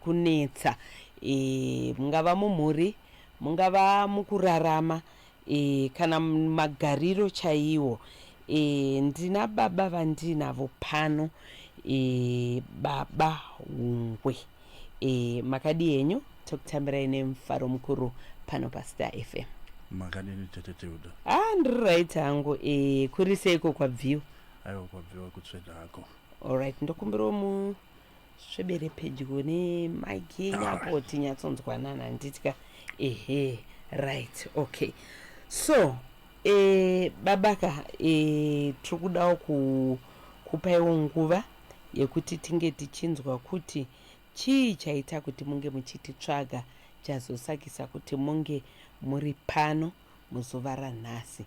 kunetsa e, mungava mumhuri mungava mukurarama e, kana magariro chaiwo e, ndina baba vandiinavo pano e, baba hungwe e, makadi henyu tokutambirai nemufaro mukuru pano pastar fm makadini tete teuda ah ndiri right hangu e, kuri seiko kwabviwa aiwa kwabviwa kutsveda hako allright ndokumbirawo mu Svebere pedyo ne mic yenyu apo tinyatsonzwanana handitya. Ehe, right, okay. So, eh, babaka eh, tiri kudawo ku, kupaiwo nguva yekuti tinge tichinzwa kuti chii chaita kuti munge muchititsvaga chazosakisa kuti munge muri pano. muzuva ranhasi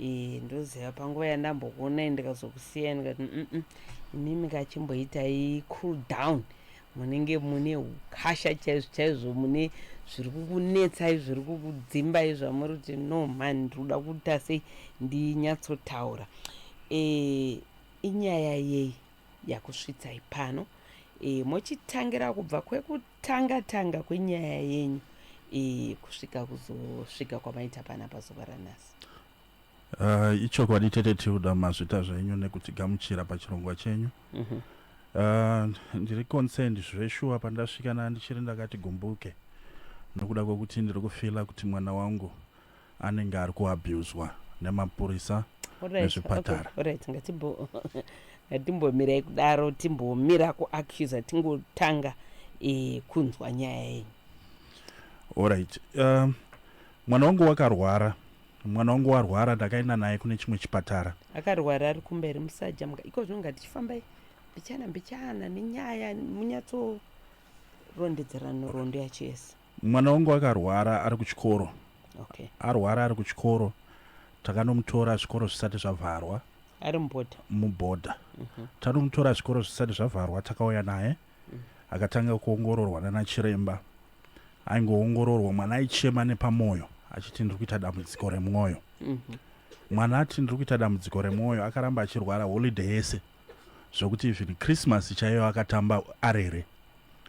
eh, ndoziva panguva yandambokuonai ndikazokusiyai ndikati mm -mm. imimi kachimboitai cool down munenge mune ukasha chaizvo chaizvo mune zviri kukunetsai zviri kukudzimbai zvamuri kuti no man ndiri kuda kuita sei ndinyatsotaura e, inyaya yei yakusvitsai pano e, mochitangira kubva kwekuti tanga tanga kwenyaya yenyu iyi kusvika kuzosvika kwamaita pana pazuva ranhasi uh, ichokwadi tete tilda mazvita zvenyu nekutigamuchira pachirongwa chenyu mm -hmm. Ah, ndiri concerned zveshuwa pandasvikana ndichiri ndakati gumbuke nokuda kwekuti ndiri kufila kuti mwana wangu anenge ari kuabuswa nemapurisa nezvipatara right ngatimbo ngatimbomirai kudaro timbomira kuaccusa tingotanga e, kunzwa nyaya yenyu orit uh, eh, mwana wangu wakarwara mwana wangu warwara ndakaenda naye kune chimwe chipatara akarwara ari kumberi musaja muka iko zvino ngaticifambai mbichana mbichana nenyaya munyatsorondedzerano rondo yacho yese mwana wangu akarwara ari kuchikoro okay. arwara ari kuchikoro takanomutora zvikoro zvisati zvavharwa ari mubhodha mubhodha mm -hmm. tanomutora zvikoro zvisati zvavharwa takauya naye mm. akatanga kuongororwa nana chiremba aingoongororwa mwana aichema nepamwoyo achiti ndiri kuita dambudziko remwoyo mm -hmm. mwana ati ndiri kuita dambudziko remwoyo akaramba achirwara holiday yese zvokuti even christmas chaiyo akatamba arere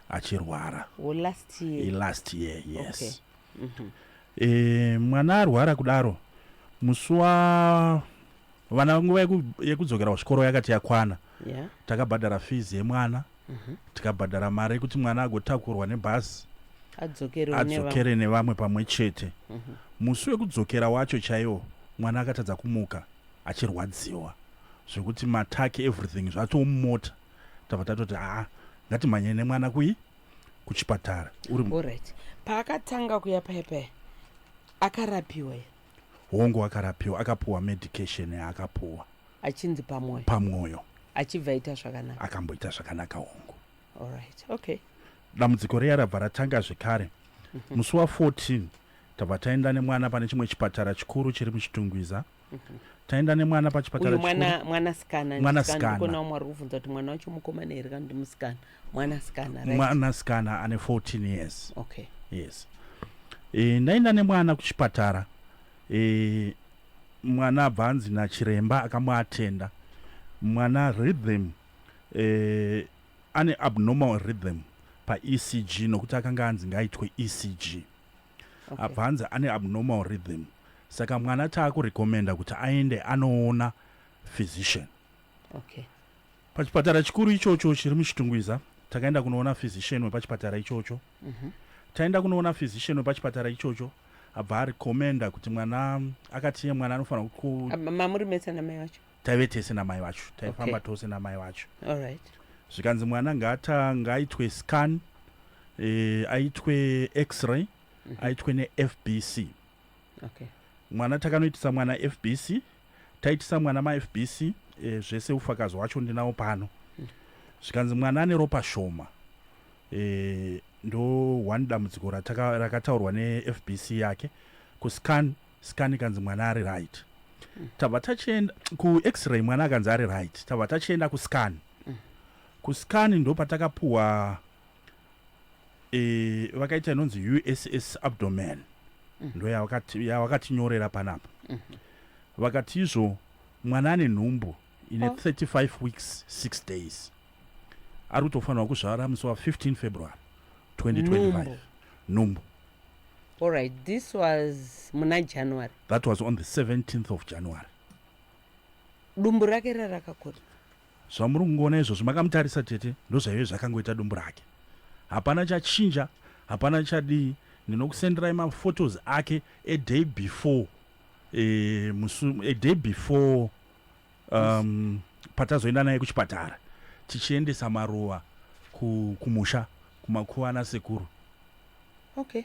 achirwara oh, last year. Eh, last year yes okay. mm -hmm. e, mwana arwara kudaro musi wa vana nguva yekudzokera kuzvikoro yakati yakwana yeah. takabhadhara fees yemwana mm -hmm. tikabhadhara mari yekuti mwana agotakurwa nebhazi adzokere nevamwe pamwe chete mhm. musi wekudzokera wacho chaiwo mwana akatadza kumuka achirwadziwa zvekuti mataki everything zvatoo mumota tava tatoti haa ngatimhanyei nemwana kui kuchipatara uri right paakatanga kuya paya paya akarapiwa ye hongu akarapiwa akapuwa medication yaakapuwa achinzi pamwoyo pamwoyo achibva aita zvakanaka akamboita zvakanaka hongu allright okay dambudziko riya rabva ratanga zvekare mhm. musi wa 14 tabva taenda nemwana pane chimwe chipatara chikuru chiri muchitungwiza taenda nemwana pachipatara mwana mwana sikana mwana sikana kona umwe ari kuvhunza kuti mwana wacho mukomana here kana ndi musikana mwana sikana right mwana sikana ane 14 years okay yes e, ndaenda nemwana kuchipatara e, mwana abva anzi nachiremba akamuatenda mwana rhythm e, ane abnormal rhythm paecg nokuti akanga anzi ngaitwe ecg okay. abva hanzi ane abnormal rhythm saka mwana taakurecommenda kuti aende anoona physician okay. pachipatara chikuru ichocho chiri muchitungwiza takaenda kunoona physician wepachipatara ichocho mm -hmm. taenda kunoona physician wepachipatara ichocho abva arecommenda kuti mwana akatiye mwana anofanira mamuri mese namai vacho taive tese namai vacho taifamba okay. tose namai vacho right. zvikanzi mwana ngaata ngaaitwe scan e, aitwe x-ray mm -hmm. aitwe nefbc okay. mwana takanoitisa mwana fbc taitisa mwana mafbc e, eh, zvese ufakazi wacho ndinawo pano mm. zvikanzi mwana ane ropa shoma e, ndo one dambudziko rakataurwa nefbc yake kuscan scan ikanzi mwana ari right mm. tabva tachienda kuexray mwana akanzi ari right tabva tachienda kuscan mm. kuscan ndo patakapuwa e, vakaita inonzi uss abdomen mm. ndo yavakatinyorera panapa mm -hmm. vakati izvo mwana ane nhumbu ine 35 weeks 6 days ari kutofanirwa kuzvara musi wa 15 february 2025 nhumbu Alright, this was muna January. That was on the 17th of January. Dumbu rake rira rakakura. Zvamuri kungoona izvozvo makamutarisa tete ndozvaive zvakangoita dumbu rake. Hapana chachinja, hapana chadii. Ndinokusenderai maphotos ake a day before eh, musu, a day before um, patazoenda naye kuchipatara tichiendesa maruva kumusha kumakuva ana sekuru okay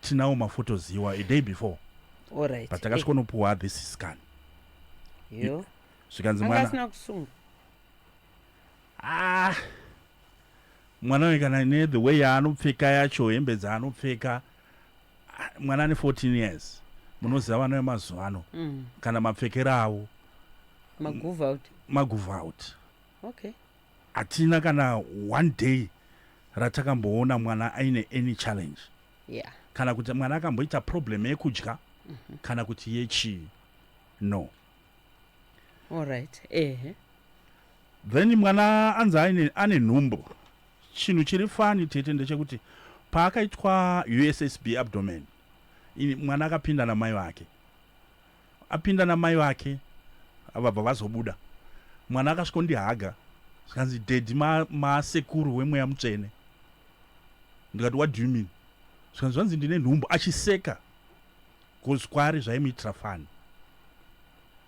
tinawo mafotos iwa a day before right. but takasvikonopuwa eh. this scan yo zvikanzi mwana kusunga ah mwana uyu kana ne the way yaanopfeka yacho hembe dzaanopfeka mwana ane 14 years munoziva vana vemazuva ano mm. kana mapfekero avo magove out okay hatina kana one day ratakamboona mwana aine any challenge yeah. kana kuti mwana akamboita problem yekudya mm -hmm. kana kuti yechii no alright ehe Then mwana anzi aine ane nhumbu. Chinhu chiri funny tete ndechekuti paakaitwa USSB abdomen ini mwana akapinda namai vake. Apinda namai vake vabva vazobuda. Mwana akasvikondihaga zvikanzi daddy ma, ma sekuru wemweya mutsvene. Ndikati what do you mean? Zvikanzi zvanzi ndine nhumbu achiseka. Cause kwari zvaimuitira fun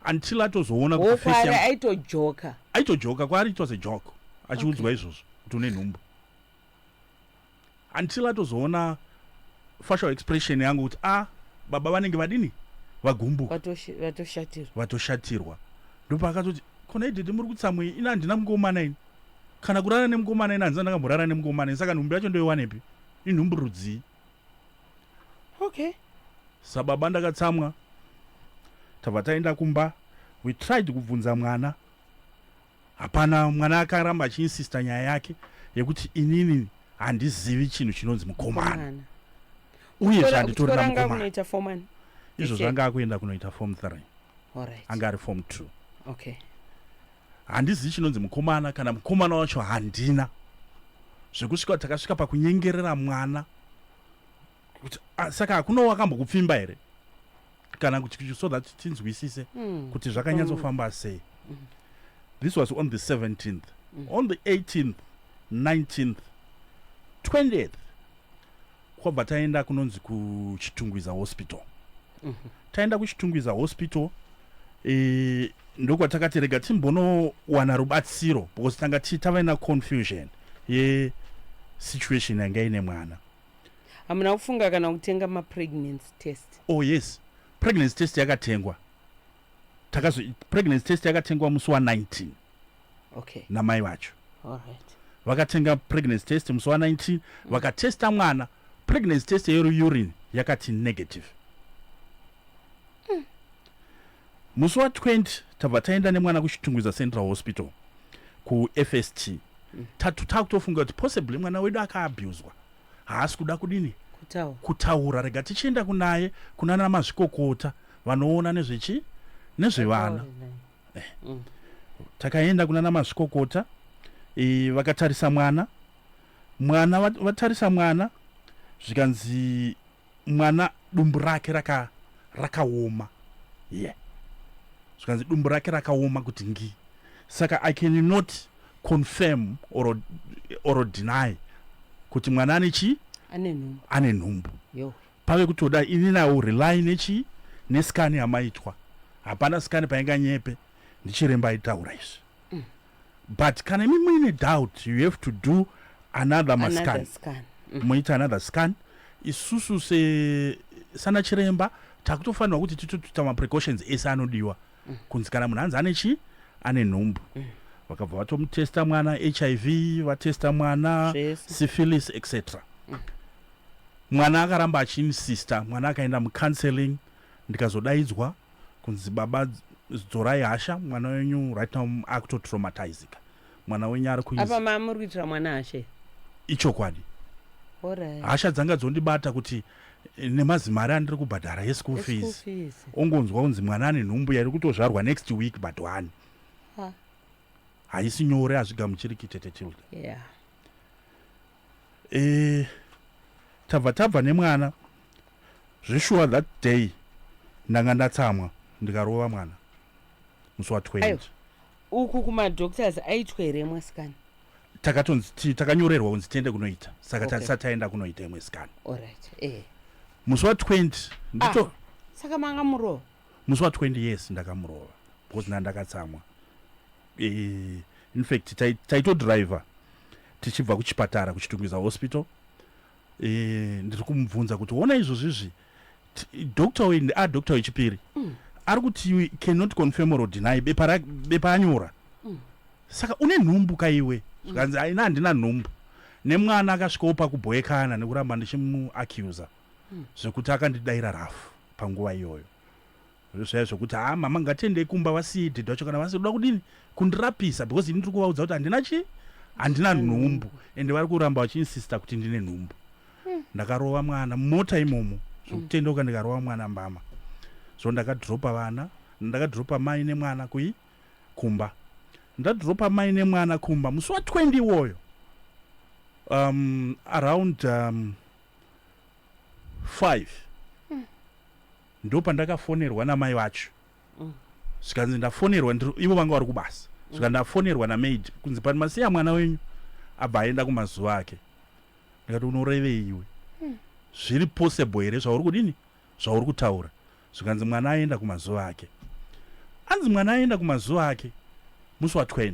until atozoona kuti face kwari yangu aitojoka aitojoka kwaari it was a joke achiudzwa izvozvo kuti une nhumbu until atozoona facial expression yangu kuti a baba vanenge vadini vagumbuka Vatoshi- vatoshatirwa vatoshatirwa ndopaakatoti kona idede muri kutsamwei ini handina mukomana ini kana kurara nemukomana ini handisati ndakamborara nemukomana ini saka nhumbu yacho ndoiwanepi inhumbu rudzii okay sababa ndakatsamwa tabva taenda kumba we tried kubvunza mwana hapana mwana akaramba achiinsista nyaya yake yekuti inini handizivi chinhu chinonzi mukomana uye zvanditorina mukomana izvo zvanga akuenda kunoita form three anga ari form two okay handizivi chinonzi mukomana kana mukomana wacho handina zvekusvika takasvika pakunyengerera mwana kuti ah, saka hakuna wakambokupfimba here kana kuti so that tinzwisise mm. kuti zvakanyatsofamba mm. sei mm. this was on the 17th mm. on the 18th 19th 20th kwabva taenda kunonzi kuchitungwiza hospital mm -hmm. taenda kuchitungwiza hospital e, ndokwatakati rega timbonowana rubatsiro because tanga ti tava na confusion yesituation yanga ine mwana hamuna kufunga kana kutenga mapregnancy test oh yes pregnancy test yakatengwa takazo pregnancy test yakatengwa musi wa 19 okay namai vacho all right vakatenga pregnancy test musi wa 19 vakatesta mwana pregnancy test yeri urine yakati negative musi wa 20 tabva taenda nemwana kuchitungwiza central hospital kufst tatu takutofunga kuti possibly mwana wedu akaabuswa haasi kuda kudini kutaura, kutaura. rega tichienda kunaye kunana mazvikokota vanoona nezvechi nezvevana eh. mm. takaenda kunana mazvikokota e, vakatarisa mwana mwana vatarisa mwana zvikanzi mwana dumbu rake raka rakaoma yeah zvikanzi dumbu rake rakaoma kuti ngi saka i can not confirm or, or deny kuti mwana ane chii ane nhumbu ane nhumbu yo pave kutoda ini nawo rely nechii neskani yamaitwa hapana skani painga nyepe ndichiremba aitaura izvi mm. but kana imi muine doubt you have to do another mascan mm. moita another scan isusu se sana chiremba takutofanirwa kuti titotuta maprecautions ese anodiwa mm. kunzi kana munhu hanzi ane chii ane nhumbu mm. vakabva vatomutesta mwana hiv vatesta mwana syphilis etc mm. mwana akaramba achiinsista mwana akaenda mucounseling ndikazodaidzwa kunzi baba dzorai hasha mwana wenyu right now akutotraumatizika mwana wenyu ari kuapa mamuri kuitira mwana hashe ichokwadi hasha dzanga dzondibata kuti eh, nemazimari andiri kubhadhara yeschool fees ongonzwa kunzi mwana ane nhumbu yairi kutozvarwa next week but one haisi nyore hazvigamuchiriki tete tilda yeah. e, tabva tabva nemwana zveshuwa that day ndanga ndatsamwa ndikarova mwana musi wa 20 uku kumadoctors aitwa here imwe sikana takatonzi takanyorerwa kunzi tiende kunoita saka okay. tasati taenda kunoita imwe sikana right. eh. musi wa 20 ndito ah, saka manga murova musi wa 20 yes ndakamurova because nda ndakatsamwa Eh, in fact taitodriver tichibva kuchipatara kuchitungwiza hospital eh, ndiri kumubvunza kuti ona izvozvizvi doctor uyu ndia ah, doctor wechipiri mm. ari kuti you cannot confirm or deny bepa anyora mm. saka une nhumbu ka iwe zvikanzi mm. aina handina nhumbu nemwana akasvikawo pakubhoekana nekuramba ndichimuaccusa mm. zvekuti akandidaira rafu panguva iyoyo Zviya zvekuti haa mama ngatiendei kumba vasiye dhedhi vacho kana vasiri kuda kudini kundirapisa because ini ndiri kuvaudza kuti handina chii handina nhumbu ende vari kuramba vachiinsista kuti ndine nhumbu ndakarova mwana mumota imomo zvokutendeuka ndikarova mwana mbama so ndakadhiropa vana ndakadhiropa mai nemwana kui kumba ndadhiropa mai nemwana kumba musi wa 20 iwoyo um, around um, 5 ndopandakafonerwa namai vacho zvikanzi ndafonerwa ivo vanga vari kubasa zvika ndafonerwa namaid kunzi pati masiya mwana wenyu abva aenda kumazuva ake ndikati unorevei iwe zviri possible here zvauri kudini zvauri kutaura zvikanzi mwana aenda kumazuva ake anzi mwana aenda kumazuva ake musi wa 20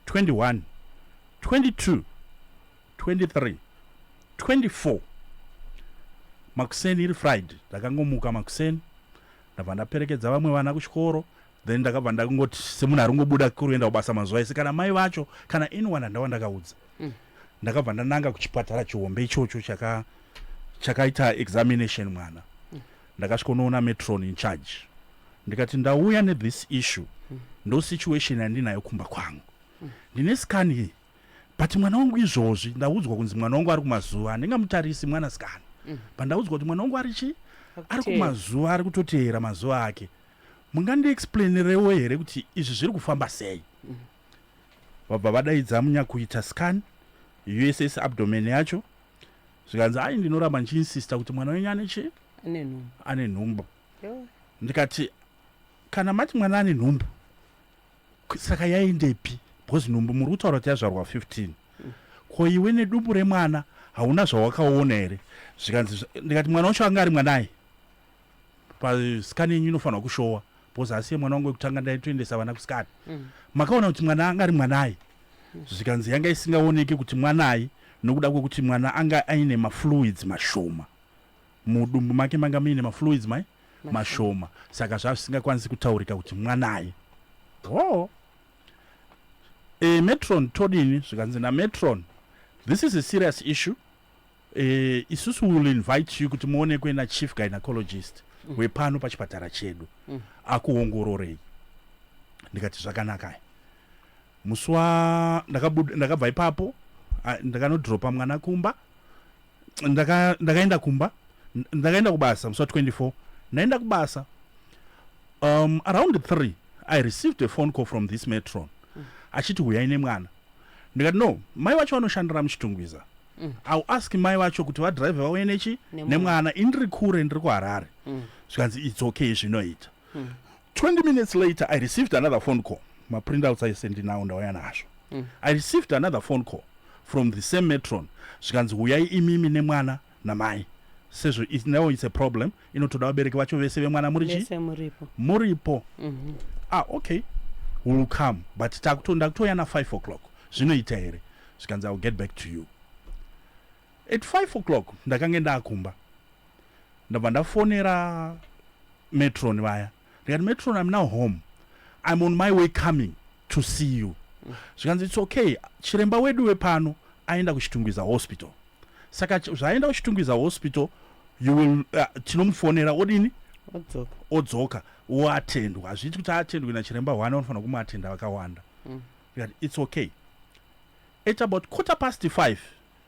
21 22 23 24 makuseni iri friday ndakangomuka makuseni ndabva ndaperekedza vamwe vana kuchikoro then ndakabva ndakungoti semunhu ari kungobuda kuenda kubasa mazuva ese kana mai vacho kana anyone andava ndakaudza mm. ndakabva ndananga kuchipatara chihombe ichocho chaka chakaita examination mwana mm. ndakasvikonoona metron in charge ndikati ndauya nethis issue mm. ndo situation yandinayo kumba kwangu ndine scan but mwana wangu izvozvi ndaudzwa kunzi mwana wangu ari kumazuva handingamutarisi mwana sikana mm. pandaudzwa kuti mwana wangu ari chii ari kumazuva ari kutoteera mazuva ake mungandiexplainirewo here kuti izvi zviri kufamba sei mm. vabva vadaidza munyakuita scan uss abdomen yacho zvikanzi ai ndinoramba ndichiinsista kuti mwana wenyu ane chii ane nhumbu ndikati kana mati mwana ane nhumbu saka yaendepi because nhumbu muri kutaura kuti yazvarwa 15 ko iwe nedumbu remwana hauna zvawakaona here zvikanzi ndikati mwana wacho anga ari mwanai pasikani yenyu inofanirwa kushowa because asi yemwana wangu wekutanga ndaitoendesa vana kusikani mm. makaona kuti mwana anga ari mwanai zvikanzi yanga isingaoneki kuti mwanai nokuda kwekuti mwana anga aine mafluids mashoma Mudumbu make manga muine mafluids mai mashoma saka zvava zvisingakwanisi kutaurika kuti mwanai. Oh. E, metron todini zvikanzi nametron this is a serious issue e, isusu will invite you kuti muonekwe nachief gynecologist mm. wepano pachipatara chedu mm. akuongororei ndikati zvakanakai musi wa ndakabva ipapo ndakanodropa mwana kumba ndaka ndakaenda kumba ndakaenda kubasa musi wa 24 ndaenda kubasa um, around 3 i received a phone call from this metron mm. achiti huyai nemwana ndikati no mai vacho vanoshandira muchitungwiza mm. iw ask mai vacho kuti vadrive vauye nechi nemwana indiri kure ndiri kuharare mm. zvikanzi its okay zvinoita mm. 20 minutes later i received another phone call maprintouts aise ndinawo ndauya nazvo mm. i received another phone call from the same metron zvikanzi huyai imimi nemwana namai sezvo now its a problem inotoda vabereki vacho vese vemwana muri chi muripo mm -hmm. ah okay will come but takutonda kutouya na 5 o'clock zvinoita here zvikanzi i will get back to you At five o'clock ndakange ndakumba ndabva ndafonera metron vaya ndikati metron im now home im on my way coming to see you zvikanzi its okay chiremba wedu wepano aenda kuchitungwiza hospital saka zvaaenda kuchitungwiza hospital you will uh, tinomufonera odini odzoka odzoka woatendwa hazviiti kuti atendwe nachiremba one vanofanira kumuatenda vakawanda mm. its okay at about quarter past five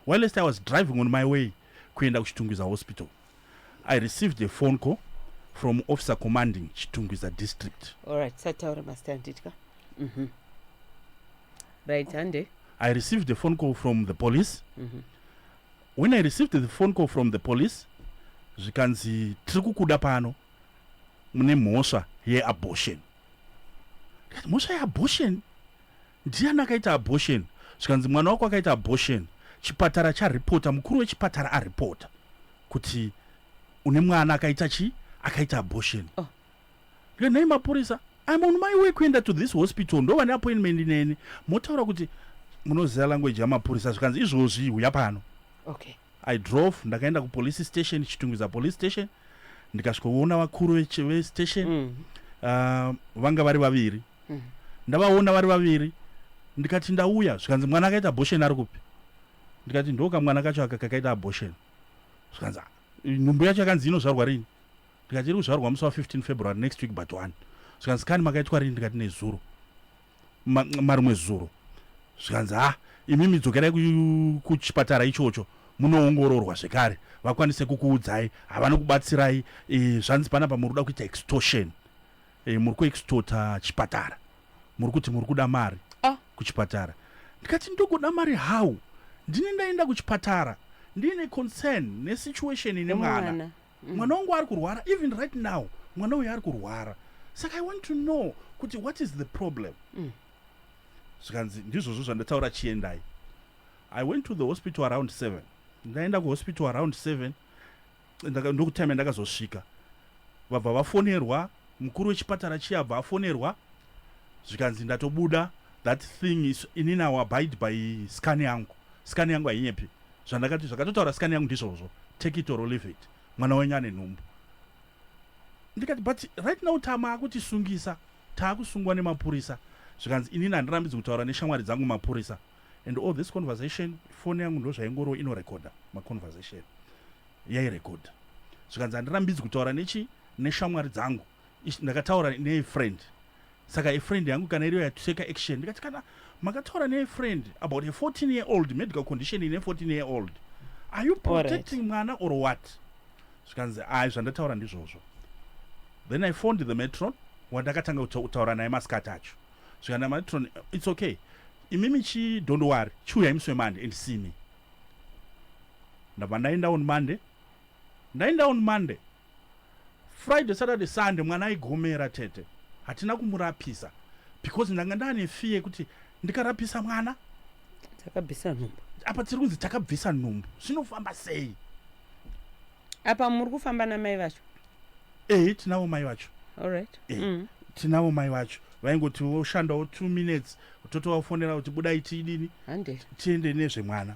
Whilst I was driving on my way kuenda kuChitungwiza Hospital, I received a phone call from officer commanding Chitungwiza district. Alright, sataura master handitya. Mhm. Right, hande. I received a phone call from the police. Mhm. When I received the phone call from the police, zvikanzi tiri kukuda pano mune mhosva yeabortion. Ndikati, Mhosva yeabortion? Ndiani akaita abortion? Zvikanzi mwana wako akaita abortion. Chipatara charipota, mukuru wechipatara aripota kuti une mwana akaita chi akaita abortion. Oh. Ndikati nhai mapurisa, I'm on my way kuenda to this hospital ndovane appointment neni. Motaura kuti munoziva language yamapurisa zvikanzi izvozvi huya pano. Okay. I drove ndakaenda kupolice station Chitungwiza police station ndikasvikoona vakuru vestation mm. uh, vanga vari vaviri mm. ndavaona vari vaviri ndikati ndauya zvikanzi mwana akaita abortion ari kupi ndikati ndoka mwana kacho aka kakaita abortion zvikanzi ah, nhumbu yacho yakanzi inozvarwa rini ndikati iri kuzvarwa musi wa 15 february next week but one zvikanzi kani makaitwa rini ndikati nezuro marimwe zuro zvikanzi ha imimi dzokerai kuchipatara ichocho munoongororwa zvekare vakwanise kukuudzai havana kubatsirai e, zvanzi panapa muri kuda kuita extortion e, muri kuextorta chipatara muri kuti muri kuda mari ah. kuchipatara ndikati ndokuda mari how ndine ndaenda kuchipatara ndiine concern nesituation ine mwana mm. mwana wangu ari kurwara even right now mwana uyo ari kurwara saka i want to know kuti what is the problem mm. zvikanzi mm. ndizvozvo zvandataura chiendai i went to the hospital around seven ndaenda kuhospital around seven ndokutime ndakazosvika vabva vafonerwa Mukuru wechipatara chiya abva afonerwa zvikanzi ndatobuda that thing is ini now abide by scan yangu scan yangu hainyepi zvandakati zvakatotaura scan yangu ndizvozvo take it or leave it mwana wenyu ane nhumbu ndikati but right now tama akutisungisa taakusungwa nemapurisa zvikanzi inini handirambidzi kutaura neshamwari dzangu mapurisa and all this conversation foni yangu ndozvaingoro inorekodha maconversation yairekodha zvikanzi handirambidzi kutaura nechi neshamwari dzangu ndakataura nefriend saka efriend yangu kana iriyo yatuteka action ndikati kana makataura nefriend about a 14 year old medical condition ine 14 year old are you protecting right. mwana or what zvikanzi ai zvandataura ndizvozvo then i phoned the metron wandakatanga kutaura naye masikati acho zvikana metron its okay imimi chidhondowari chiuyai musi wemande and see me ndabva ndaenda on monday ndaenda on monday friday saturday sunday mwana aigomera tete hatina kumurapisa because ndanga ndaane fee yekuti ndikarapisa mwana takabvisa nhumbu apa tiri kunzi takabvisa nhumbu zvinofamba sei apa muri kufamba namai vacho ehe tinavo mai vacho allright Eh. mm. tinavo mai vacho vaingoti woshandawo two minutes totova fonera kuti budai tiidini hande tiende nezvemwana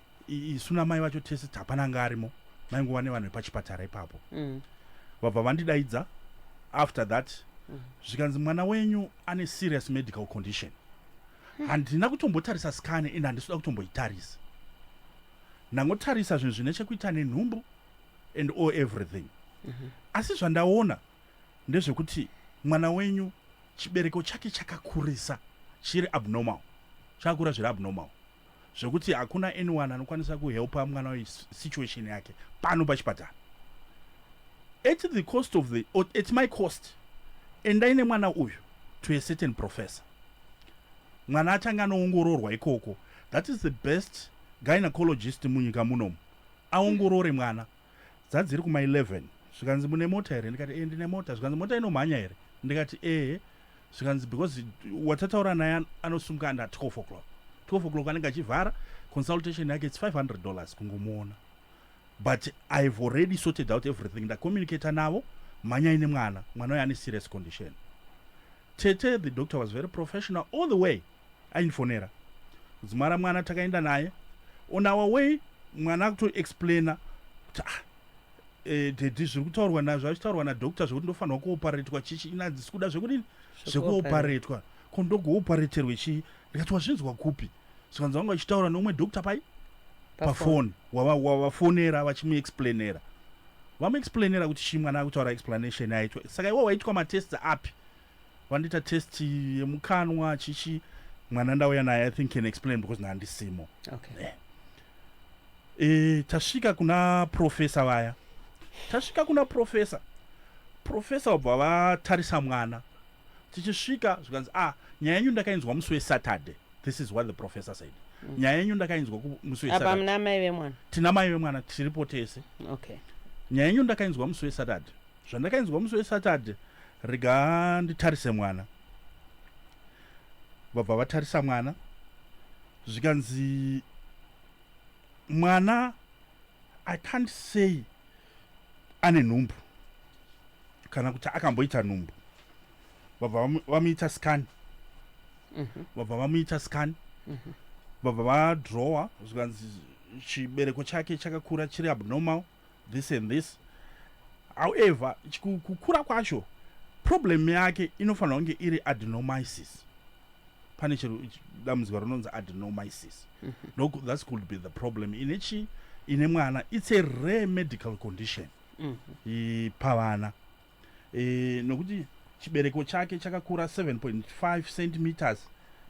isu namai vacho tese hapana anga arimo maingova nevanhu vepachipatara ipapo mm. vabva vandidaidza after that mm. zvikanzi mwana wenyu ane serious medical condition hmm. handina kutombotarisa skane and handisuda kutomboitarisa ndangotarisa zvinhu zvine chekuita nenhumbu and all everything mm-hmm. asi zvandaona ndezvekuti mwana wenyu chibereko chake chakakurisa chiri abnormal chakakura zviri abnormal zvekuti hakuna anyone anokwanisa kuhelpa mwana uyu situation yake pano pachipatara at the cost of the or at my cost endai nemwana uyu to a certain professor mwana achange anoongororwa ikoko that is the best gynecologist munyika munomu aongorore mwana mm. dzadziri kuma 11 zvikanzi mune mota here ndikati ee eh, ndine mota zvikanzi mota inomhanya here ndikati ee eh. zvikanzi because watataura naye anosumuka under 12 o'clock 12 o'clock anenge achivhara consultation yake its 500 dollars kungomuona but ihave already sorted out everything ndacommunicata navo mhanyai nemwana mwana uyo ane serious condition tete the doctor was very professional all the way aindifonera kudzimara mwana takaenda naye on our way mwana akutoexplaina kuti ah eh, dedi zviri kutaurwa nazvo azvitaurwa nadoctor zvekuti ndofanirwa kuoparetwa chichi ina dzisi kuda zvekudini zvekuoparetwa ko ndogoopareterwe chii ndikati wazvinzwa kupi zvikanzi vanga vachitaura neumwe doctor pai pafoni wavafonera vachimuexplainera vamuexplainera kuti chii mwana akutaura explanation yaitwa saka iwo waitwa matests api vandiita test yemukanwa chichi mwana ndauya naye i think can explain because naandisimo okay. eh. eh, tasvika kuna profesa vaya tasvika kuna profesa profesa wabva vatarisa mwana tichisvika zvikanzi ah nyaya yenyu ndakainzwa musi wesaturday this is what the professor said mm. nyaya yenyu ndakainzwa musi wesaturday tina mai vemwana tiripo tese okay. nyaya yenyu ndakainzwa musi wesaturday zvandakainzwa musi wesaturday rega nditarise mwana vabva vatarisa mwana zvikanzi mwana i can't say ane nhumbu kana kuti akamboita nhumbu vabva vamuita scan mhm. vabva vamuita scan mhm. vabva vadrowa zvikanzi chibereko chake chakakura chiri abnormal this and this however kukura kwacho problem yake inofanira kunge iri adenomisis pane chero dambudziko rinonzi adenomisis mm -hmm. that's could be the problem ine chi ine mwana it's a rare medical condition mm -hmm. pavana e, nokuti chibereko chake chakakura 7.5 centimeters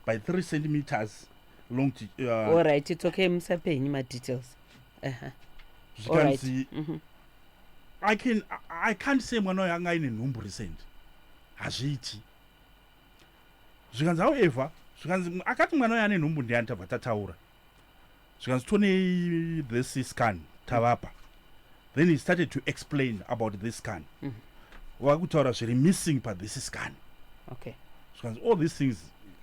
by 3 centimeters long to, uh, all right it's okay musape henyu madetails uh-huh. zvikanzi right. mm -hmm. i can i can't say mwana uyo anga aine nhumbu recent hazviiti zvikanzi however zvikanzi akati mwana uyo ane nhumbu ndiani tabva tataura zvikanzi tonei this scan tavapa then he started to explain about this scan mm -hmm. vakutaura zviri missing pathis scan okay zvikanzi all these things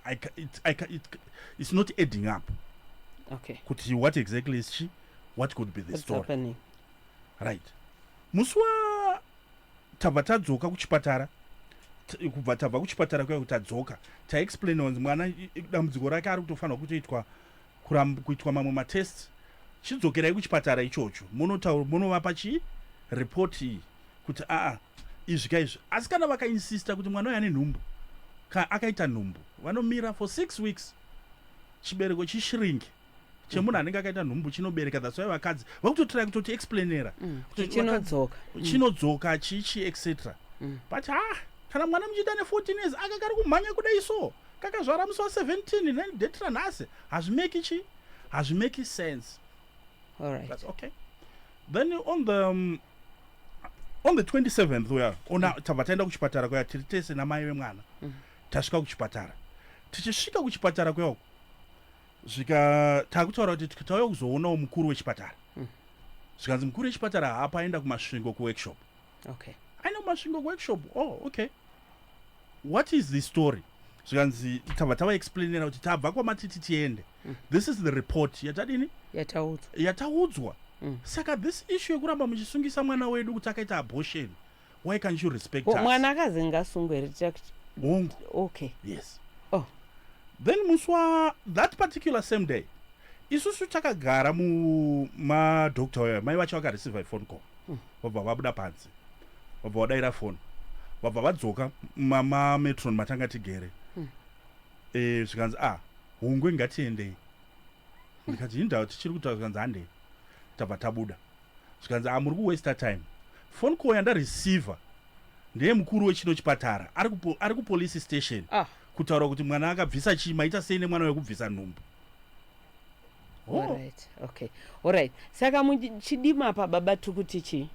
I, it, I, it, it's not adding up okay kuti what exactly is she what could be the What's story happening? right musi wa tabva tadzoka kuchipatara kubva tabva kuchipatara kuya kuti tadzoka taexplain wanzi mwana dambudziko rake ari kutofanirwa kutoitwa kuramba kuitwa mamwe matest chidzokerai kuchipatara ichocho monotaura monovapa chi report iyi kuti aa izvi ka izvi asi kana vakainsista kuti mwana uyo ane nhumbu ka akaita nhumbu vanomira for six weeks chibereko chishiringi chemunhu anenge akaita nhumbu chinobereka that's why vakadzi vakutotirai kutoti explainera mm. kuti chinodzoka mm. chinodzoka chichi etc mm. but ha ah, kana mwana muchiita ne 14 years akagari kumhanya kudai so kakazvara musi wa 17 then date ranhasi hazvimeki chi hazvimeki sense all right that's okay then on the um, on the 27th uya ona mm. tabva taenda kuchipatara kuya tiri tese namai vemwana mm. tasvika kuchipatara tichisvika kuchipatara kuya uku zvika takutaura kuti tikatauya kuzoonawo mukuru wechipatara mm. zvikanzi mukuru wechipatara haapaenda kumasvingo kuworkshop okay i know masvingo workshop oh okay what is the story zvikanzi tava tava explainera kuti tabva kwamatiti tiende mm. this is the report yatadini yataudzwa yataudzwa mm. saka this issue yekuramba muchisungisa mwana wedu kuti akaita abortion why can't you respect well, mwana akazi ngasungwe here ticha kuti hongu okay yes oh then musi wa that particular same day isusu takagara mumadoctor mai vacho vakareceiva iphone call vabva vabuda panze vabva vadaira foni vabva vadzoka mametron matanga tigere hmm. eh, zvikanzi a ah, hungwe ngatiendei ndikati yini ndava tichiri kutaura zvikanzi handei tabva tabuda zvikanzi a ah, muri kuwaster time foni call yandareceiver ndeye mukuru wechino chipatara ari kupolice station ah. kutaura kuti mwana akabvisa chii maita sei nemwana wekubvisa nhumbu Oh. Alright, okay. Alright. Saka muchidima apa baba tukuti chii?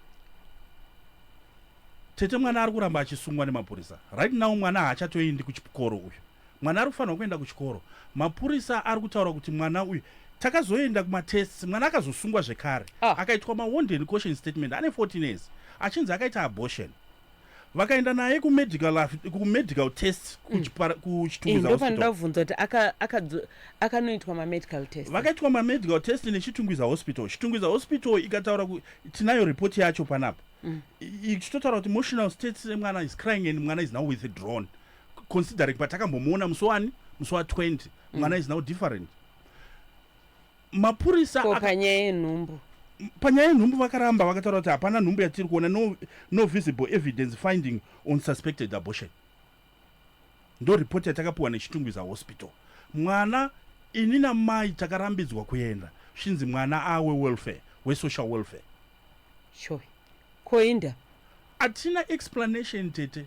Tete mwana ari kuramba achisungwa nemapurisa. Right now mwana haachatoendi kuchikoro uyu. Mwana ari kufanirwa kuenda kuchikoro. Mapurisa ari kutaura kuti mwana uyu takazoenda kumatests mwana akazosungwa zvekare. Ah. Akaitwa mawonden caution statement ane 14 years achinzi akaita abortion. vakaenda naye kumedical af- kumedical test kuchipara- kuchitungwiza hospital ndopandavhunza kuti aka- akadzo- akanoitwa mamedical test vakaitwa mamedical test nechitungwiza hospital chitungwiza hospital ikataura ku- tinayo report yacho panapa Mm. I- ichitotaura kuti emotional state semwana is crying and mwana is now with a drone considering patakambomuona musi wani musi wa 20 Mm. mwana is now different mapurisa ko panyaya yenhumbu panyaya yenhumbu vakaramba vakataura kuti hapana nhumbu yatiri kuona no, no visible evidence finding on suspected abortion ndo ripoti yatakapiwa nechitungwiza hospital mwana ini namai takarambidzwa kuenda zvinzi mwana awe welfare wesocial welfare sho koinda hatina explanation tete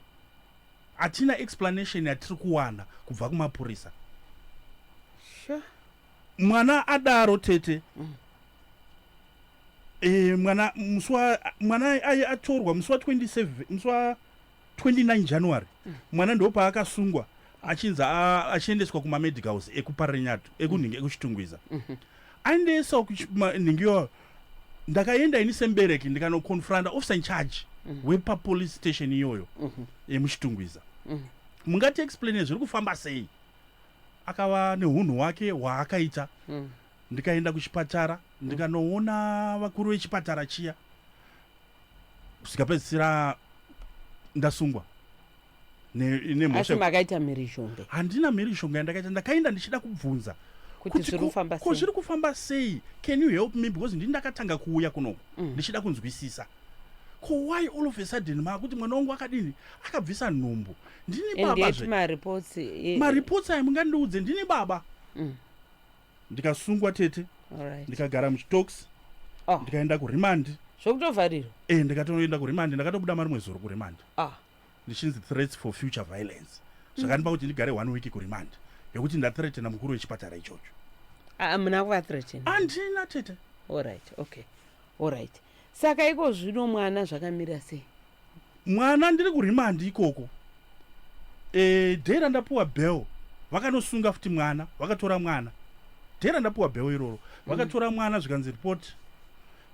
hatina explanation yatiri kuwana kubva kumapurisa sure. mwana adaro tete mm. e, mwana muswa mwana aye atorwa musi wa 27 musi wa 29 january mm. mwana ndopaakasungwa achinzi achiendeswa kumamedicals ekuparenyatu ekunhingi mm. ekuchitungwiza mm -hmm. aendesawo nhingi iyoyo ndakaenda ini sembereki ndikanoconfronta officer incharge mm -hmm. wepapolice station iyoyo mm -hmm. yemuchitungwiza mm -hmm. mungati explaine zviri kufamba sei akava nehunhu hwake hwaakaita mm. ndikaenda kuchipatara mm. ndikanoona vakuru vechipatara chiya zvikapedzisira ndasungwa nemhosva makaita mhirizhonga handina mhirizhonga yandakaita ndakaenda ndichida kubvunza ko zviri kufamba sei can you help me because ndini ndakatanga kuuya kunoku mm. ndichida kunzwisisa ko why all of a sudden maakuti mwana wangu akadini akabvisa nhumbu ndine baba zve mareports eh, mareports ayo mungandiudze ndine baba mm. ndikasungwa tete right. ndikagara muchitox oh. ndikaenda kuremand zvokutovharirwa e eh, ndikatoenda kuremand ndakatobuda marimwe zuro kuremand ah. ndichinzi threats for future violence zvakandipa mm. kuti ndigare one week kuremand yekuti ndathreatena mukuru wechipatara ichocho ah, muna kuvathreatena andina tete allright okay allright Saka iko zvino mwana zvakamira sei? Mwana ndiri kurimandi ikoko e, day randapuwa bell vakanosunga futi mwana vakatora mwana day randapuwa bell iroro vakatora mwana zvikanzi report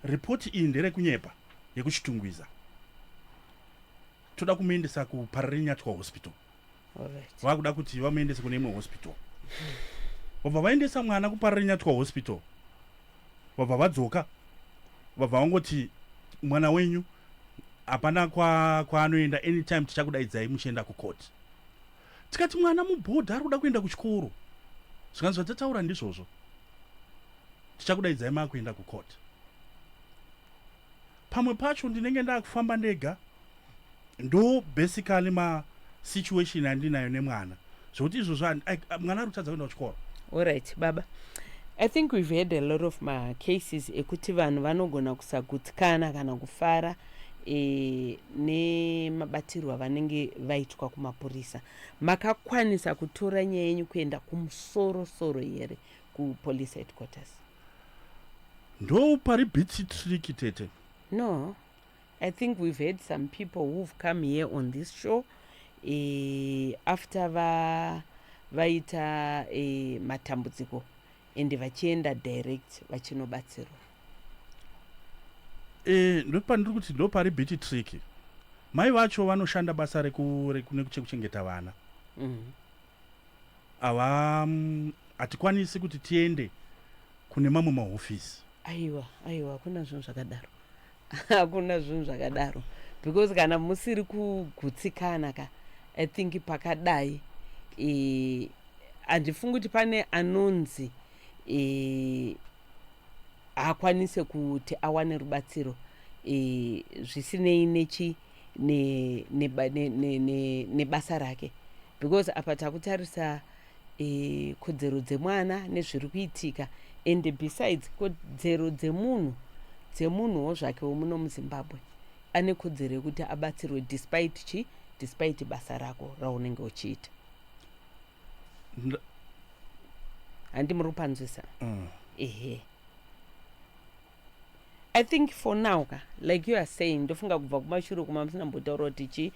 report iyi nderekunyepa yekuchitungwiza toda kumuendesa kupararinyatwa hospital vakuda kuti vamuendese kune imwe hospital vabva vaendesa mwana kupararinyatwa hospital vabva vadzoka vabva vangoti mwana wenyu hapana kwaanoenda kwa anytime tichakudaidzai muchienda kucourt tikati mwana mubhodha ari kuda kuenda kuchikoro zvikanzi zvatataura ndizvozvo tichakudaidzai maakuenda kucourt Pamwe pacho ndinenge ndakufamba ndega ndo basically ma situation andinayo nemwana zvekuti izvozvo mwana ari kutadza kuenda kuchikoro. Alright baba. I think we've had a lot of ma cases ekuti vanhu vanogona kusagutsikana kana kufara e, nemabatirwo avanenge vaitwa kumapurisa. Makakwanisa kutora nyaya yenyu kuenda kumusorosoro here kupolice headquarters? ndoupari bitsy trick tete no i think we've had some people who've come here on this show e, after va vaita e, matambudziko ende vachienda direct vachinobatsirwa e, ndopandiri kuti ndopari bitsy trick mai vacho vanoshanda basa rekunekuchekuchengeta vana mm. ava hatikwanisi kuti tiende kune mamwe mahofisi aiwa aiwa hakuna zvinhu zvakadaro hakuna zvinhu zvakadaro because kana musiri kugutsikana ka i think pakadai e, handifungi kuti pane anonzi e, haakwanise kuti awane rubatsiro e, zvisinei nechi e, nebasa ne, ne, ne, ne, ne rake because apa takutarisa e, kodzero dzemwana nezviri kuitika and besides kodzero dzemunhu dzemunhuwo zvake womuno muzimbabwe ane kodzero yekuti abatsirwe despite chi despite basa rako raunenge uchiita handi muri kupanzwisa mm. ehe mm. I think for now ka like you are saying ndofunga kubva kumashure kuma musina mbotaura kuti chi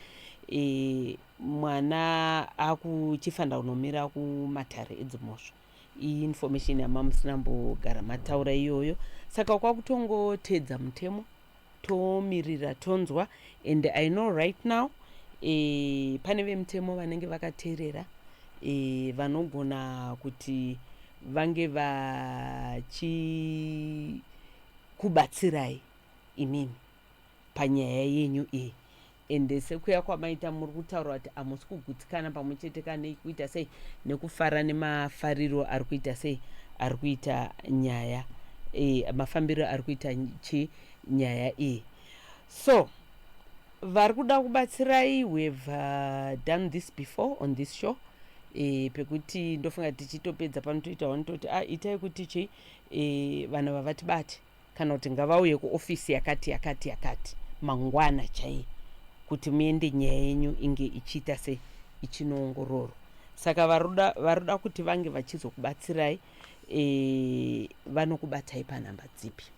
e, mwana akuchifanira kunomira kumatare edzimhosva iyi information yamamusina mbogara mataura iyoyo saka kwakutongoteedza mutemo tomirira tonzwa and i know right now e, pane vemutemo vanenge vakateerera e, vanogona kuti vange vachikubatsirai imimi panyaya yenyu iyi ende sekuya kwamaita muri kutaura kuti hamusi kugutsikana pamwe chete kanei kuita sei nekufara nemafariro ari kuita sei ari kuita nyaya e, mafambiro ari kuita chi nyaya iyi so varikuda kubatsirai we have uh, done this before on this show e, pekuti ndofunga tichitopedza pano toita wani toti a ah, itai kuti chii e, vanhu vavatibati kana kuti ngavauye kuofisi yakati yakati yakati mangwana chaiye kuti muende nyaya yenyu inge ichiita se ichinoongororwa saka varuda kuti vange vachizokubatsirai e, vanokubatai panhamba dzipi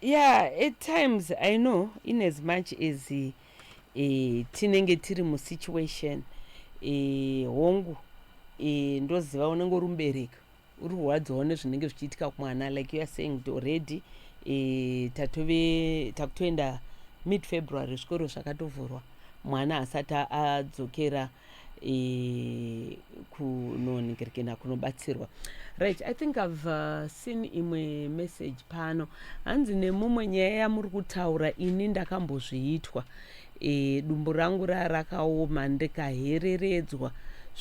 Yeah, at times I know in as much as uh, e, tinenge tiri musituation e, hongu e, ndoziva unenge uri mubereki uri kurwadziwawo nezvinenge zvichiitika kumwana like youare saying kuti already e, tatove takutoenda mid february zvikoro zvakatovhurwa mwana asati adzokera ah, e, kunonhingiririkena kunobatsirwa right i think i've uh, seen imwe message pano hanzi nemumwe nyaya yamuri kutaura ini ndakambozviitwa e, dumbu rangu raa rakaoma ndikahereredzwa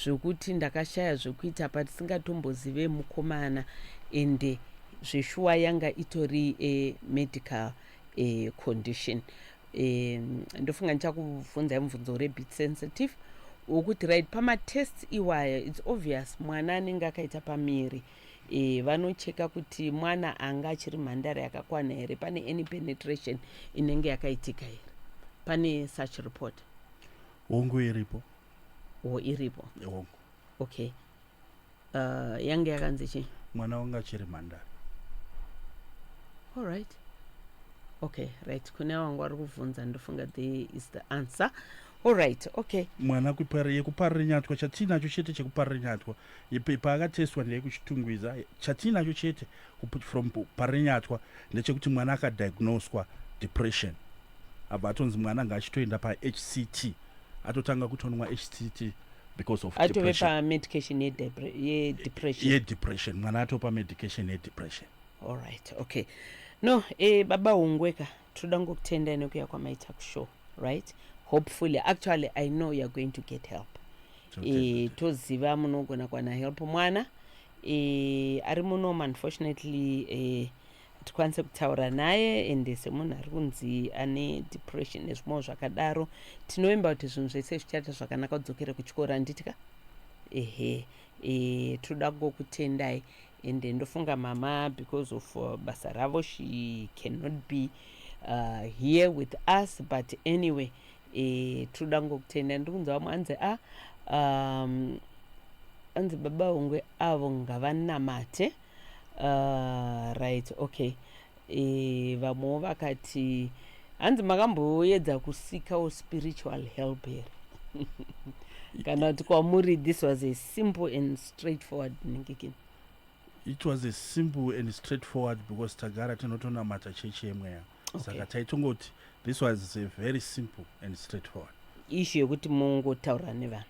zvekuti ndakashaya zvekuita patisingatombozive mukomana ende zveshuwa yanga itori e, medical e, condition uh, um ndofunga ndichakubvunzai mubvunzo uri bit sensitive wokuti right pamatests iwaya its obvious mwana anenge akaita pamiri e, vanocheka kuti mwana anga achiri mhandara yakakwana here pane any penetration inenge yakaitika here pane such report hongu iripo o iripo hongu okay uh, yange yakanzi chii mwana wangu achiri mhandara allright okay right kune wangu wari kuvhunza ndofunga the is the answer allright okay mwana yekuparira nyatwa chatiinacho chete chekuparira nyatwa paakatestwa ndeyekuchitungwiza chatiinacho chete from parira nyatwa ndechekuti mwana akadiagnoswa depression abva atonzi mwana ngaachitoenda pahct atotanga kutonwa htt because of atove pamedication yedepression yedepression mwana atove pamedication yedepression allright okay no e, baba hungweka tinoda ngokutenda inekuya kwamaita kushow right hopefully actually i know youare going to get help e, toziva munogona kwana help mwana e, ari muno unfortunately e, tikwanise kutaura naye ende semunhu ari kunzi ane depression nezvimwewo zvakadaro tinovimba kuti zvinhu zvese zvichaita zvakanaka kudzokere kuchikoro handiti ka ehe e, tinoda kungokutendai ende ndofunga mama because of uh, basa ravo she cannot be uh, here with us but anyway e, tinoda kungokutendai ndiri kunzi vamwe anzi a ah, um, anzi baba vongwe avo ngavanamate uh, right okay e, vamwewo vakati hanzi makamboedza kusikawo spiritual help here kana kuti kwamuri this was a simple and straight forward ningikini it was a simple and straight forward because tagara tinotonamata chechi yemweya okay. saka taitongoti this was a very simple and straight forward ishu yekuti mungotaura nevanhu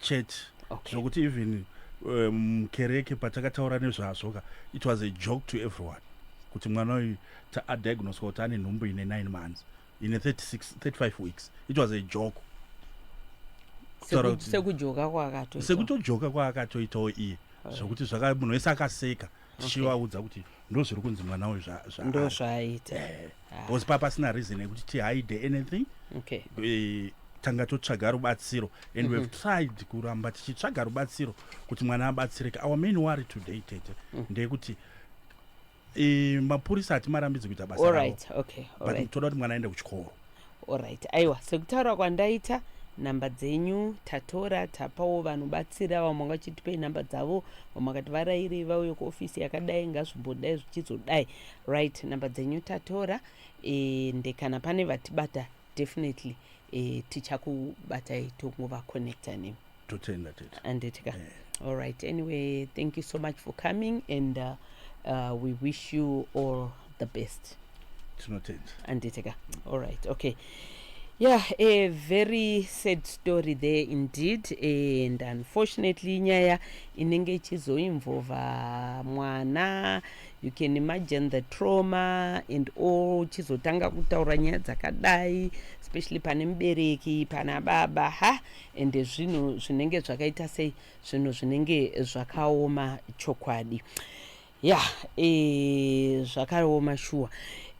church okay. zvokuti even eh, mukereke um, patakataura nezvazvo ka it was a joke to everyone kuti mwana uyu adiagnoswa kuti ane nhumbu ine 9 months ine 36 35 weeks it was a joke sekujoka kwaakatoitawo iye zvokuti zvaka munhu wese akaseka okay. tichivaudza kuti ndo zviri kunzi mwana uyu ndo zvaaita eh, ah. because papa sina reason yekuti tihide anything okay. Eh, tanga totsvaga rubatsiro and we've mhm. tried kuramba tichitsvaga rubatsiro kuti mwana abatsireke our main worry today tete mm. ndeyekuti eh, mapurisa hatimarambidzi kuita basa ravo but toda kuti mwana aende kuchikoro Alright, aiwa sekutaura kwandaita nhamba dzenyu tatora tapawo vanhu batsira vamwe vanga vachitipei nhamba dzavo vamwe vakati varairei vauye kuofisi yakadai ngazvimbodai zvichizodai right nhamba dzenyu tatora ende kana pane vatibata definitely e, tichakubatai tongovaconnecta nemi totenda tete anditi ka yeah. all right anyway thank you so much for coming and uh, uh, we wish you all the best tinotenda anditi ka all right okay yeah a very sad story there indeed and unfortunately inyaya inenge ichizoinvolva mwana you can imagine the trauma and all chizotanga kutaura nyaya dzakadai especially pane mubereki pana baba ha ende zvinhu zvinenge zvakaita sei zvinhu zvinenge zvakaoma chokwadi ya e, zvakaoma shuwa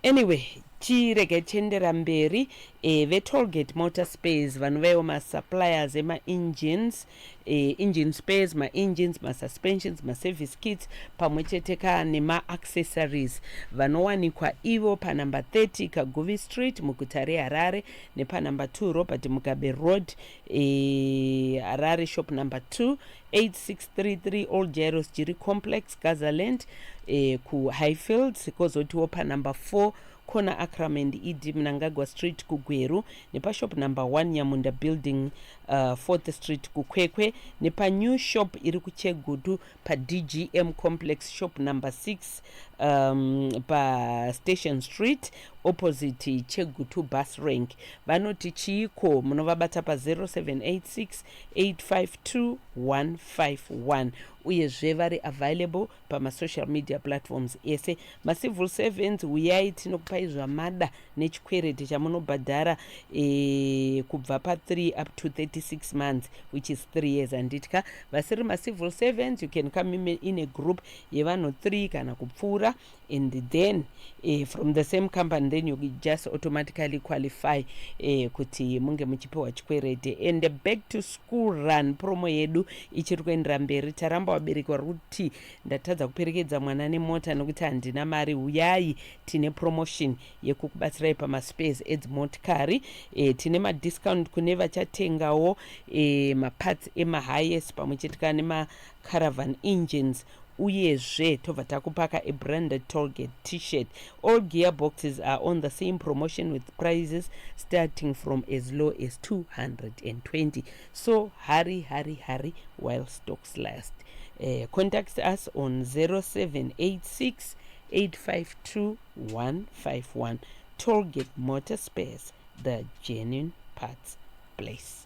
anyway tirege tiendera mberi e, vetolgate motor space vanovaiwo masuppliers emaengines e, engine space maengines masuspensions maservice kits pamwe chete ka nemaaccessories vanowanikwa ivo panumber 30 kaguvi street muguta reharare nepanumber 2 robert mugabe road eh, harare e, shop number 2 8633 old jairos jiri complex gazaland eh, kuhighfields kozotiwo panumber 4 corner acram and ed mnangagwa street kugweru nepashop number 1 nyamunda building uh, fourth street kukwekwe nepanew shop iri kuchegutu padgm complex shop number 6 um, pastation street opposite chegutu bus rank vanoti chiiko munovabata pa0786 852151 uyezve vari available pamasocial media platforms ese macivil servants uyai tinokupai zvamada nechikwereti chamunobhadhara e, kubva pa3 up to 36 months which is 3 years handitya vasiri macivil servants you can come in a group yevanhu 3 kana kupfuura and then e, from the same company then you just automatically qualify e, kuti munge muchipiwa chikwereti and back to school run promo yedu ichiri kuendera mberi taramba vabereki vari kuti ndatadza kuperekedza mwana nemota nekuti handina mari huyai tine promotion yekukubatsirai pamaspares edzimotikari e, tine madiscount kune vachatengawo e, maparts emahighest pamwe chete kana nemacaravan engines uyezve tobva takupaka a branded tolgate t-shirt all gear boxes are on the same promotion with prices starting from as low as 220 so hurry hurry hurry while stocks last uh, contact us on 0786 852151 Tollgate Motor Spares the genuine parts place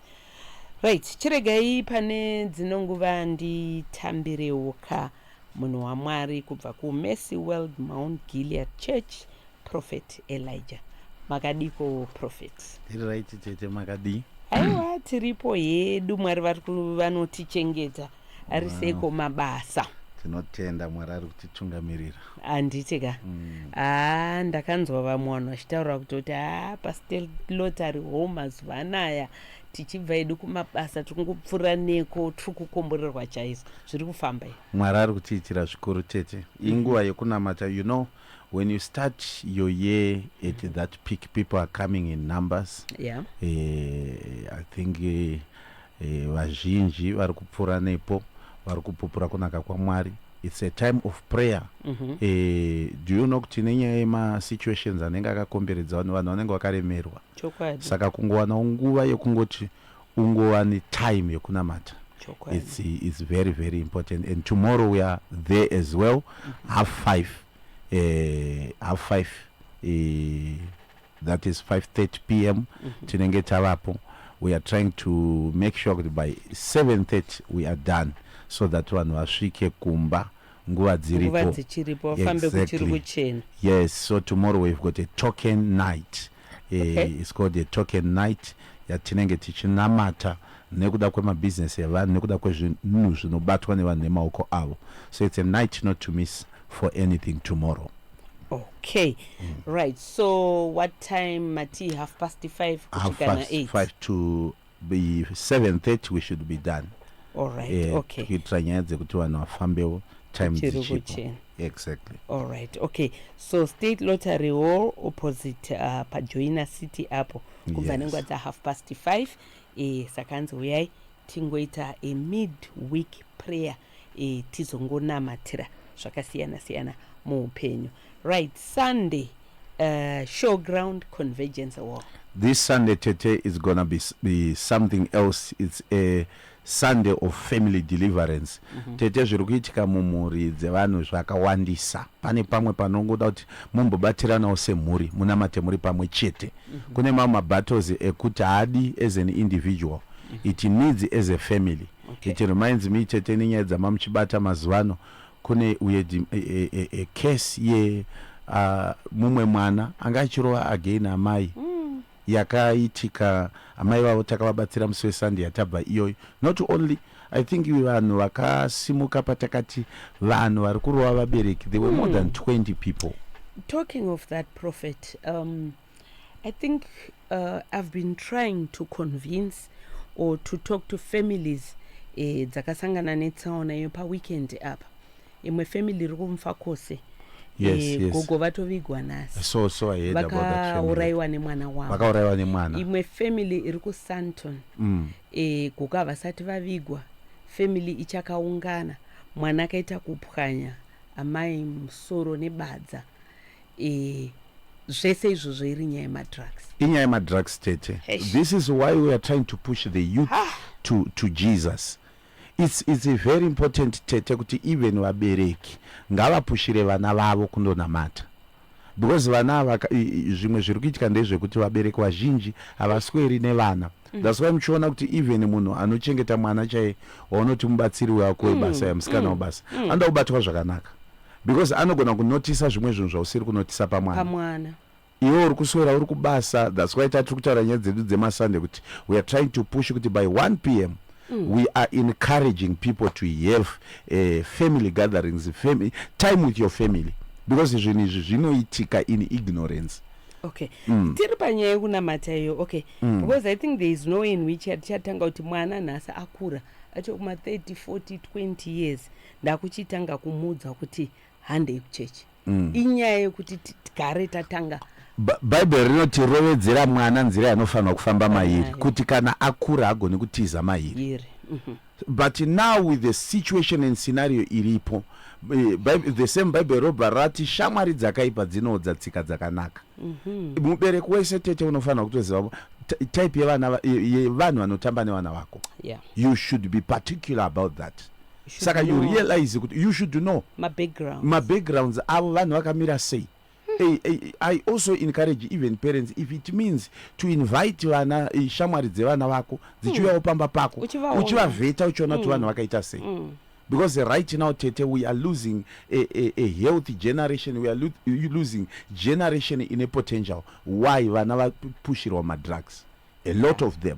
right chiregai pane dzino nguva nditambirewo ka munhu wamwari kubva kumercy world mount gilead church prophet elijah makadiko prophet tiri right chete makadii aiwa tiripo hedu mwari vanotichengeta ari seiko mabasa tinotenda mwari ari kutitungamirira handiti ka mm. haa ndakanzwa vamwe vanhu vachitaura kuti kuti haa pastelot ari home mazuva anaya tichibva edu kumabasa tiri kupfuura neko tiri kukomborerwa chaizvo zviri kufamba i mwari ari kutiitira zvikuru tete mhm. inguva yekunamata you know when you start your year at mhm. that peak people are coming in numbers yeah. uh, i think uh, E, vazhinji vari kupfuura nepo vari kupupura kunaka kwaMwari. It's a time of prayer. Mm -hmm. e, do you know kuti nenyaya yemasituations anenge akakomberedza vanhu vanhu vanenge vakaremerwa Chokwadi. saka kungowanawo nguva yekungoti ungova netime yekunamata it's, it's very very important and tomorrow we are there as well mm -hmm. half five uh, half five uh, that is 530 pm mm -hmm. tinenge tavapo we are trying to make sure kuti by 730 we are done so that vanhu vasvike kumba nguva dziripo exactly. yes so tomorrow we've got a token night eh, okay. uh, it's called a token night yatinenge tichinamata nekuda kwemabusiness evanhu nekuda kwezvinhu zvinobatwa nevanhu nemaoko avo so it's a night not to miss for anything tomorrow okay mm. right so what time mati half past 5 half past 5 to be 7:30 we should be done all right eh, okay kuitira nyaya dzekuti vanhu vafambewo time dzichipo exactly all right okay so state lottery hall opposite uh, pajoina city apo kubva yes. nenguva dza half past 5 eh, saka anzi uyai tingoita a mid week prayer e, tizongonamatira zvakasiyana siyana muupenyu right sunday uh, showground convergence walk this sunday tete is gonna be, be something else it's a sunday of family deliverance mm -hmm. tete zviri kuitika mumhuri dzevanhu zvakawandisa pane pamwe panongoda kuti mumbobatiranawo semhuri munamate muri pamwe chete mm -hmm. kune mamwe mabattles ekuti haadi as an individual mm -hmm. it needs as a family okay. it reminds me chete nenyaya dzamamuchibata mazuvano kune uye e, e, e, e, case ye uh, mumwe mwana anga achirova again amai mm. yakaitika amai vavo takavabatsira musi wesunday yatabva iyoyo not only i think vanhu vakasimuka patakati vanhu vari kurova vabereki there were mm. more than 20 people talking of that prophet um, I think uh, I've been trying to convince or to talk to families eh, dzakasangana netsaona iyo paweekend apa imwe family iri kumfa kose Yes, eh, yes. gogo vatovigwa nhasi so so i heard about that family vakaurayiwa nemwana wavo vakaurayiwa nemwana imwe family iri kusanton mm. eh, gogo havasati vavigwa family ichakaungana mwana akaita kupwanya amai musoro nebadza Eeh zvese izvozvo iri nyaya yemadrugs. Inyaya yemadrugs tete. Eish. This is why we are trying to push the youth ah. to, to Jesus. It's, it's very important tete kuti even vabereki ngavapushire vana vavo kundonamata because vana ava zvimwe zviri kuitika ndezvekuti vabereki vazhinji havasweri nevana mm. that's why muchiona kuti even munhu anochengeta mwana chaiye waunoti mubatsiri wako webasa mm. yamusikana mm. wabasa anoda kubatwa zvakanaka because anogona kunotisa zvimwe zvinhu zvausiri kunotisa pamwana pamwana iwe uri kuswera uri kubasa thats why tatiri kutaura nyaya dzedu dzemasunday kuti we are trying to push kuti by 1 p m Mm. we are encouraging people to have uh, family gatherings fami time with your family because zvinhu izvi zvinoitika in ignorance okay mm. tiri panyaya yekunamata iyo okay mm. because i think there is no in which atichatanga kuti mwana nhasi akura achokuma 30 40 20 years ndakuchitanga kumuudza kuti handei kuchechi mm. inyaya yekuti tigare tatanga bhaibheri rinoti rovedzera mwana nzira yanofanirwa kufamba mairi kuti kana akura agone kutiza mairi mhm. but now with the situation and scenario iripo eh, the same bible robha rati shamwari dzakaipa dzinoodza tsika dzakanaka mhm. mubereki wese tete unofanira kutoziva type yevanhu vanotamba nevana vako you should be particular about that saka you realize kuti you should know mabackgrounds avo vanhu vakamira sei Hey, hey, i also encourage even parents if it means to invite vana eh, shamwari dzevana vako dzichiuyawo hmm. pamba pako uchivavheta uchiona kuti hmm. vanhu vakaita sei hmm. because right now tete we are losing a, a, a healthy generation we are lo losing generation ine potential why vana vapushirwa madrugs a lot of them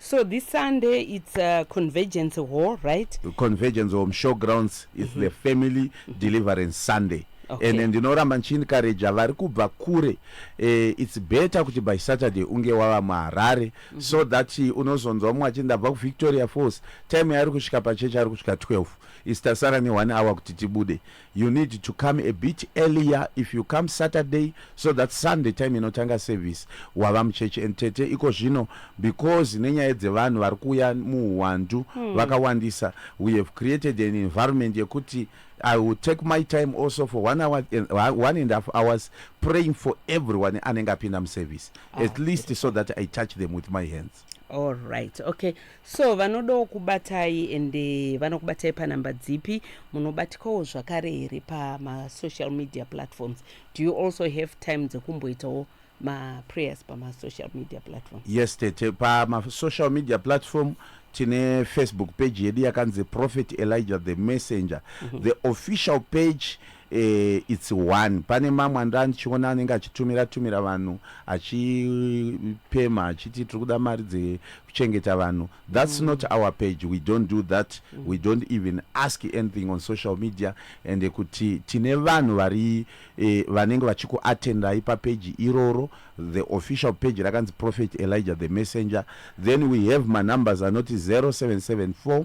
So this Sunday it's a uh, convergence hall, right? Convergence hall, showgrounds is mm -hmm. the family mm-hmm. deliverance Sunday. Okay. And ndinoramba ndichiencouraja vari kubva kure eh, it's better kuti by saturday unge wava muharare mm -hmm. so that eh, unozonzwa umwe achiti ndabva kuvictoria falls time yaari kusvika pachechi ari kusvika 12 isitasara ne1 hour kuti tibude You need to come a bit earlier if you come Saturday so that Sunday time inotanga service wava muchechi and tete iko zvino because nenyaya dzevanhu vari kuuya muuwandu hmm. vakawandisa we have created an environment yekuti I will take my time also for one hour and uh, one and a half hours praying for everyone anenge apinda muservice ah, at least so that I touch them with my hands. Alright, okay. So vanodawo kubatai and eh, vanokubatai panhamba dzipi? Munobatikawo zvakare here pamasocial media platforms? Do you also have time dzekumboitawo maprayers pamasocial media platforms? yes tete pamasocial media platform tine facebook page yedu yakanzi prophet elijah the messenger mm -hmm. the official page mm -hmm. eh, its one pane mamwe andaa ndichiona anenge achitumira tumira vanhu achipema achiti tiri kuda mari dzekuchengeta vanhu thats mm. not our page we don't do that mm. we don't even ask anything on social media ende kuti tine vanhu vari eh, vanenge vachikuatendai papeji iroro the official page rakanzi prophet elijah the messenger then we have manumbers anoti 0774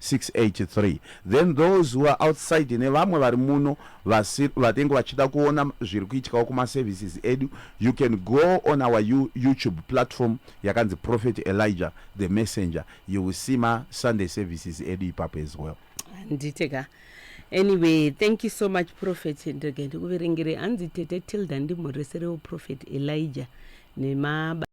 683 then those who are outside nevamwe vari muno vatenge vachida kuona zviri kuitikawo kumaservices edu you can go on our youtube platform yakanzi prophet elijah the messenger you will see masunday services edu ipapo as well handite ka anyway thank you so much prophet ndege ndikuverengere hanzi tete tilda ndimhoreserewo prophet elijah nemaba